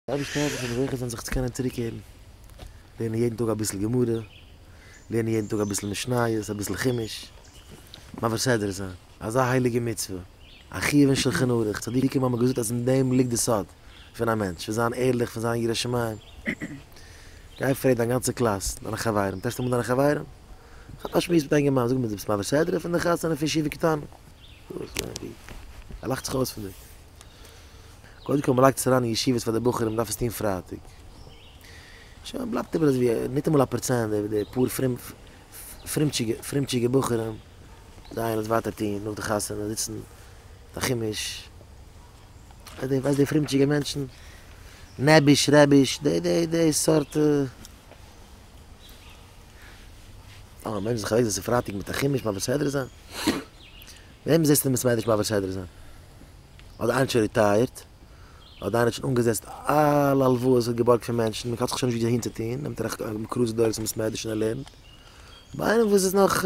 די אייבערשטער העלף אונז אזעלכע זענען זיך צו קענען צוריק הערן, לערנען יעדן טאג אביסל גמרא, לערנען יעדן טאג אביסל משניות, אביסל חומש, מעביר סדרה זיין, אזא הייליגע מצוה, א חיוב אין שלחן ערוך, צדיקים האבן געזאגט אז אין דעם ליגט די סוד פון א מענטש, פון זיין ערליך, פון זיין ירא שמים, גיי פרעג דיין גאנצע קלאס, דיינע חברים, טעסט אמאל דיינע חברים, כאפ א שמועס מיט אינגערמאן, זאג מיר דו ביסט מעביר סדרה פון די חתונה פון ישיבה קטנה? ער לאכט זיך אויס פון דיר. קודם כל מ'לייגט עס אריין אין ישיבות פאר די בחורים מ'דארף עס טון פרייטאג. שוין בלייבט איבער אזויווי ניטאמאל א פראצענט די די פאר פרומטשיגע פרומטשיגע בחורים זיי גייען עס ווייטער טון נאך די חתונה זיצן א חומש ווייסט די ווייסט די פרומטשיגע מענטשן נעביש רעביש די די די סארט א מענטש זיך אוועקזעצן פרייטאג מיט א חומש מבסדר זיין. וועם זעסטו מוז מענעדזש מעביר סדר זיין? אדער איינער האט שוין ריטייערט? אדער איינער האט שוין אנגעזעצט אלע הלוואות ער האט געבארגט פון מענטשן און קאלט זיך שוין נישט ווי אהין צו טון נעמט ער א קרוז דורך צו מוז מענעדזשן ער לערנט ביי איינעם וואס איז נאך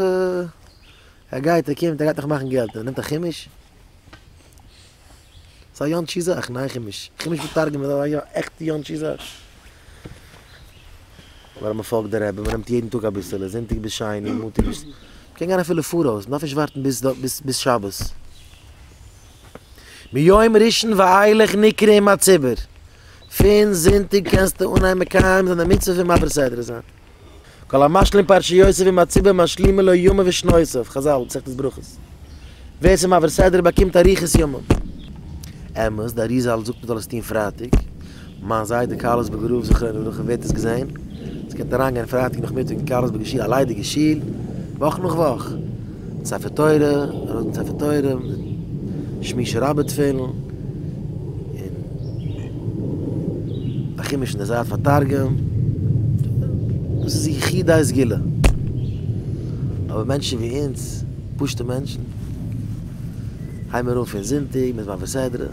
ער גייט ער קומט ער גייט נאך מאכן געלט ער נעמט א חומש. ס'איז א יאנטשי זאך, ניין כ'מיש כ'מיש מתרגם איז א עכטע יאנטשי זאך. אבער אז מ'פאלגט די רבי, מ'נעמט יעדן טאג אביסעלע, זונטאג ביז שני, מאנטאג ביז. מ'קען גיין אפילו פאראויס, מ'דארף נישט ווארטן ביז ביז שבת. מיום ראשון ואילך נקרא עם הציבור, פון זונטאג קענסטו אנהייבן מקיים זיין די מצוה פון מעביר סדרה זיין. כל המשלים פרשיותיו עם הציבור משלימין לו ימיו ושנותיו, חזל, מסכת ברכות. ווער ס'איז מעביר סדר באקומט אריכות ימים. אמת, די אריזה זאגט מען זאל עס טון פרייטאג. מיין זיידע קארלסבורג הרב זכרונו לברכה ווערט עס געזען. ס'קען אריינגיין פרייטאג נאכמיטאג אין קארלסבורגער שול, א ליידיגע שול, וואך נאך וואך. ספר תורה, ארויס מיט ספר תורה, שמישה רבה תפילין, און א חומש אין די זייט פאר תרגום, דאס איז יחידי סגולה, אבער מענטשן ווי אונז, פשוטע מענטשן, הייבן מיר אן פון זונטאג מיט מען וסדרה.